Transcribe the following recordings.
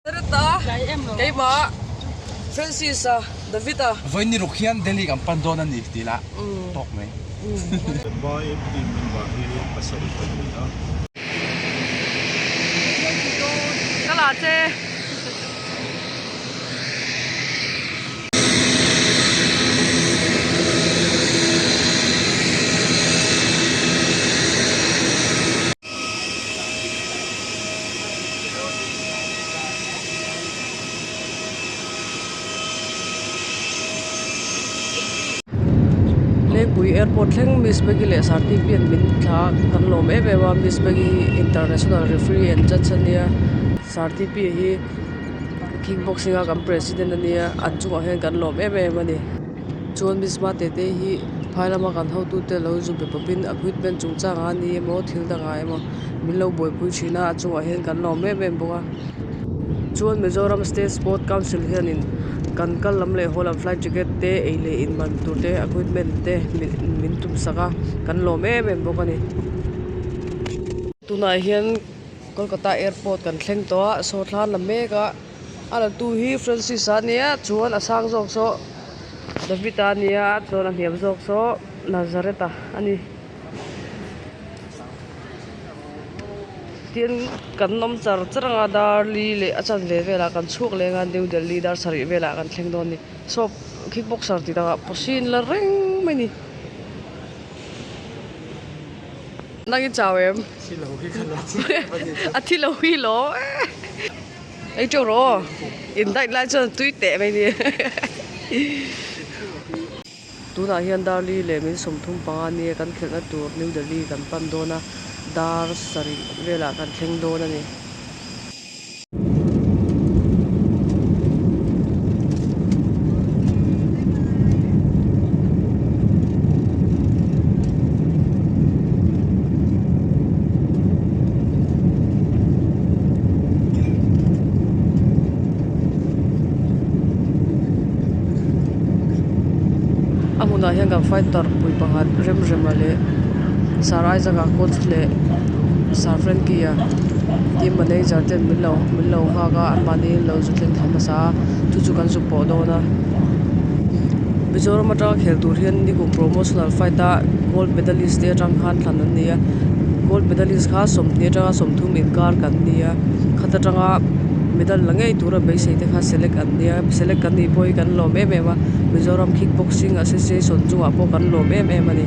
Hereta, keima, Francis-a, David-a. Vawiin ruk hian Delhi-a kan pan dawn a ni tih lah tawk mai. Mumbai Empty Member hi pasarih a ni a. Lengpui airport thleng Miss Maggie leh Sarti Pian min thla kan lawm em em a Miss Maggie hi international referee and judge a nia Sarti Pi hi kickboxing a kan president a nia an chungah hian kan lawm em em a ni. Chuan Miss Hma Tete hi phai lama kan hotute lo zu pe pawpin appointment chungchanga ni emaw thil dangah emaw min lo buaipui thin a, a chungah hian kan lawm em em bawk a. Chuan Mizoram State Sport Council hianin kan kal lam leh haw lam flight ticket te ei leh in ban tur te appointment te min tum sak a, kan lawm em em bawk a ni. Tunah hian Kolkata Airport kan thleng tawh a, saw thla an la mek a. A lantu hi Francis a nia chuan a sang zawk saw David a nia chuan a hniam zawk saw Nazareth a a ni. Tin, kan awm char char anga Darli leh a chanve velah kan chhuak leh anga New Delhi dar sarih velah kan thleng dawn a ni. Shop kick boxer tih dangah pawhsin la reng mai ni. Nang in chau em? A thilo hi lo. Eitur aw in date lai chuan tui teh mai ni tunah hian Darli leh min sawmthum panga nia kan khelhna tur New Delhi kan pan dawn a, dar sarih velah kan thleng dawn a ni. A hmunah hian kan fighter pui pakhat remrema leh sir isaaca coach leh sir frankie a team manager te an lo min lo nghak a an mahni an lo zut thleng tham hmasa a chu chu kan zut pawh dawn a mizoram atanga khel tur hian nigum promotional fight a gold medalist te atang khan thlan an ni a. gold medalist kha sawmnai atanga sawmthum inkar kan ni a khat atanga medal la ngei tura beisei te kha select an nia select kan nih pawh hi kan lawm em em a mizoram kick boxing association chungah pawh kan lawm em em a ni.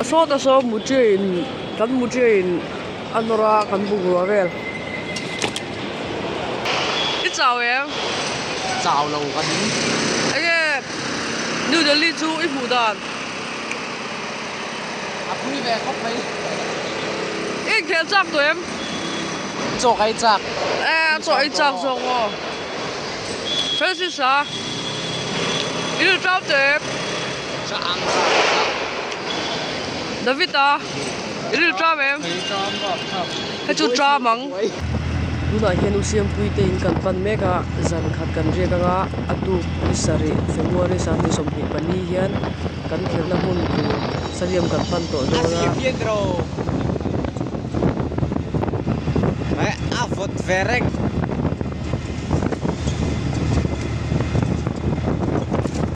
A sawt a sawt mutia in kan mutia in a nawr a kan bungrua vel. I chau em? Chau lo ka ni. Enge New Delhi chu i hmuh dan? A pui ve khawp mai. I inkhel chak tawh em? Chawk ai chak. E a chawk ai chak zawk maw? Francis a, i rilṭau teh em? David a i ril ṭam em? Kha chu ṭam ang. Tunah hian u Siampuite in kan pan mek a, zan khat kan riak anga a tuk i sarih February sate sawmhnih pali hian kan khelhna hmun tur Saliam kan pan tawh dawn a.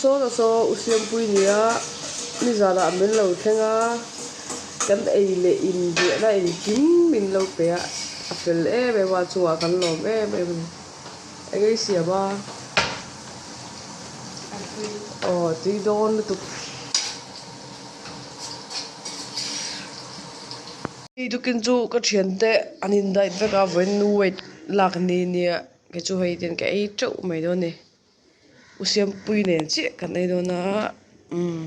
Sawla saw u Siampui nia nizanah a men lo thleng a, kan ei leh in ziahna a engkim in lo pe a, a fel em em a, a chungah kan lawm em em a ni. Eng a i siam a? Aw, tui dawn lutuk. Eidukin chu ka thiante an invite vek a vawiin nu wait lak ni nia kei chu hei ten ka ei teuh mai dawn ni u siampui nen chiah kan ei dawn a umm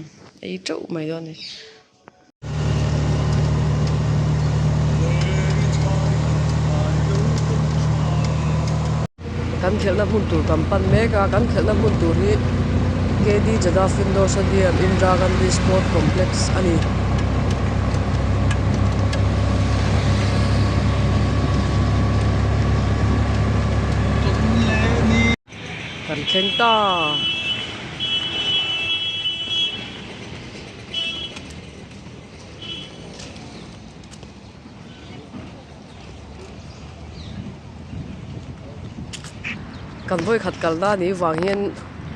ei teuh mai dawn ni. Kan khelhna hmun tur kan pan mek a, kan khelhna hmun tur hi KD Jadaf Indoor Stadium, Indira Gandhi Sport Complex a ni. Kan thleng ta a. Kan vawikhat kal na nih vang hian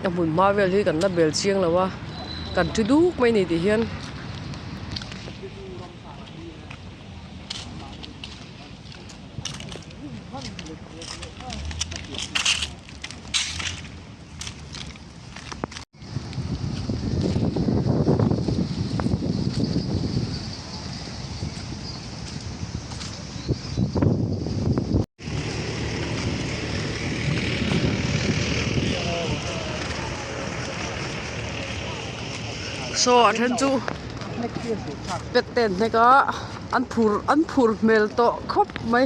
ka hmun hma vel hi kan la bel chiang lo a, kan ṭhu duk mai ni tih hian so a then chu pet ten hnek a an phur an phur hmel tawh khawp mai.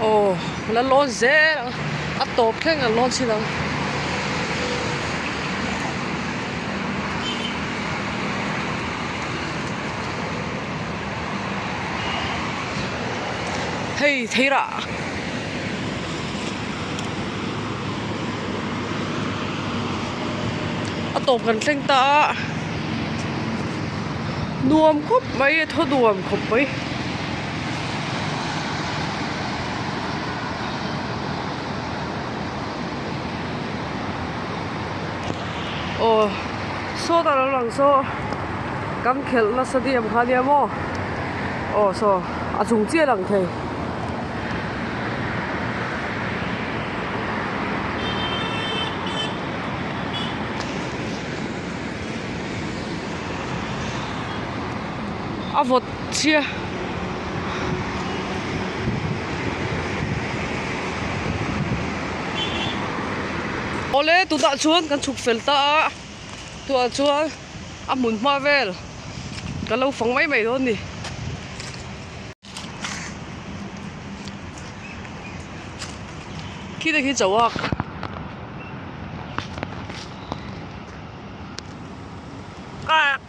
Aw la lawn zel ang a tawp thleng la lawn chin ang. Hei thei rah. A tawp kan thleng ta a nuam khawp mai a thaw nuam khawp mai. Aw sawta lo lang saw kan khelh nasa diam kha nia maw aw saw a chung chiah ang thei a vawt chhia. Awle tunah chuan kan chhuk fel ta a, tunah chuan a hmun hma vel ka lo fang mai mai dawn a ni. Khi te khi chauak ah.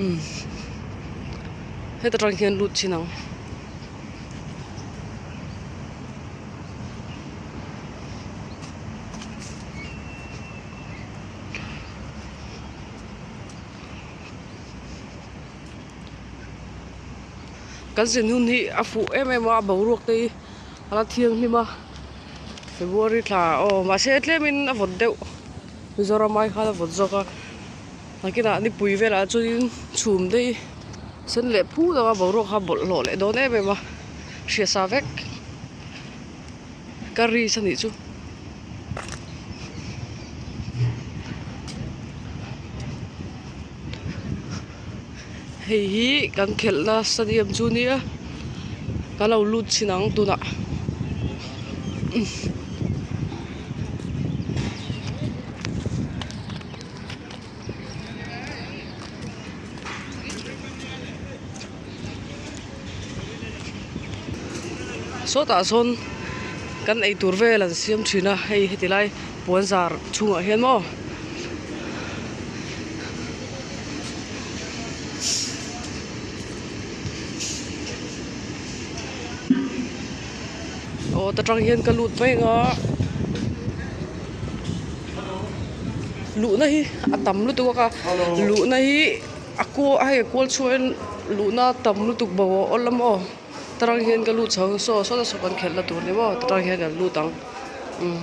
umm heta tang hian lut thin ang. Kan zin hun hi a fuh em em a boruak te hi a la thiang hlim a February thla aw mahse tlem in a vawt deuh Mizoram ai khan a vawt zawk a. Nakinah nipui velah chuanin chhum daih sen leh phu lo a boruak kha bawlh hlawh leh dawn em em a hriasa vek ka ris anih chu. Hei hi kan khelhna stadium chu nia ka lo lut chhin ang tunah umm. sawtah sawn kan eitur vel an siam thin a hei heti lai puanzar chhungah hian maw aw ta tang hian ka lut mai nga luhna hi a tam lutuk bawk a luhna hi a kual a hei a kual chhuak in luhna a tam lutuk bo a awl lama aw ta tang hian ka lut chho ang saw sawta saw kan khelh la tur ni maw ta tang hian kan lut ang umm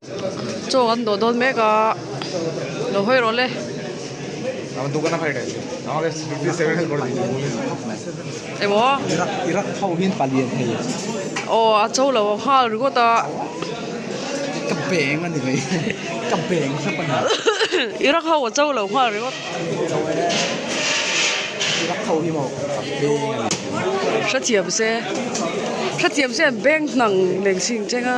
Chaw an dawh dawn mek a, lo hawi rawh le. Emaw? Iraq tho hian palian thei. Aw a chaw lo a nghal ringawt a. Ka beng ani mai ka beng thlap ani. Iraq ho a chaw lo nghal ringawt. Iraq tho hi maw a beng ani. Hrethiam se hrethiam se an beng hnang lengsing cheng a.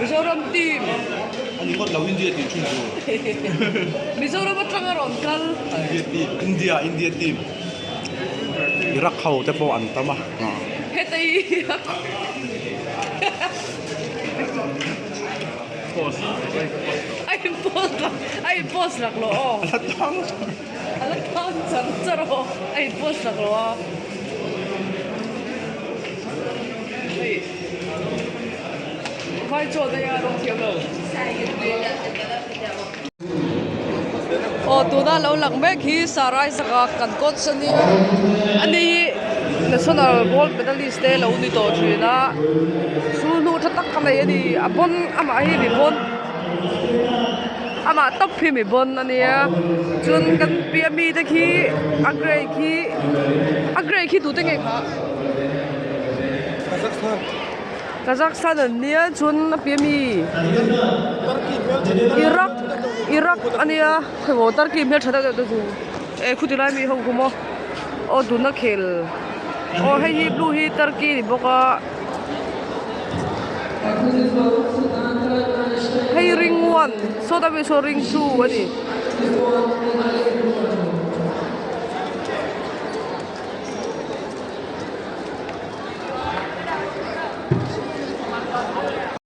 Mizoram team. Ani ngawt lo India tih chhun tur. Mizoram atang a rawn kal. India team India India team. Iraq ho te pawh an tam a. Hetaii ha ha. Post. Ai post rak ai post rak lo aw. A la khang char char a haw a in post hrak lo a. Hei vai chaw daih a rawng thiam lo. Aw tuna lo lang mek hi Saraizaka kan coach a nia. A ni hi national gold medalist te lo ni tawh thin a. Chu hnu tha tak a nei a ni. A pawn amah hi mi pawn. Amah tawp khi mi bawn a nia, chuan kan piah mi te khi a grey khi a grey khi tute nge kha Kazakhstan Kazakhstan a nia chuan a piah mi Iraq Iraq a nia khawbo Turkey hmel tha deuh deuh te chu e khuti lai mi ho khaw maw aw tuna khel aw hei hi blue hi Turkey a ni bawk a. Hei ring one saw dam in saw ring two a ni.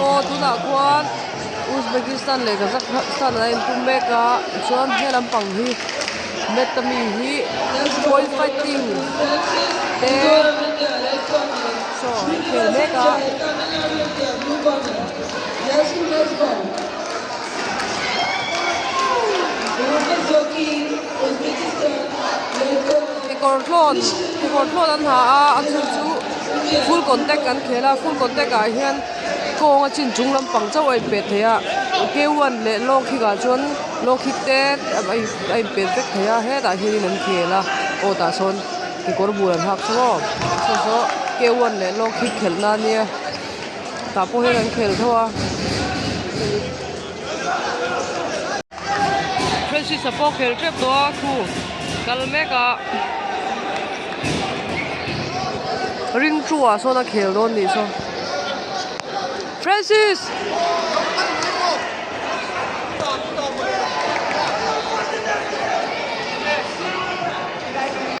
Aw, tunah khuan Uzbekistan leh Kazakhstan an in pum mek a, tichuan he lampang hi Meta mi hi point fighting te chaw an khel mek a. Kekawr hlawn kekawr hlawn an ha a a chung chu full contact an khel a full contact ah hian kawng a chin chung lampang chauh a inpet theih a K one leh long kick ah chuan long kick te a inpet vek thei a hetah hianin an khel a aw tah sawn kekawr bul an hak che maw chhung saw K one leh long kick khelh na nia tah pawh hian an khel tho a. Francis a pawh khel tep tawh a thu kal mek a. Ring thu ah sawn a khel dawn nih saw. Francis!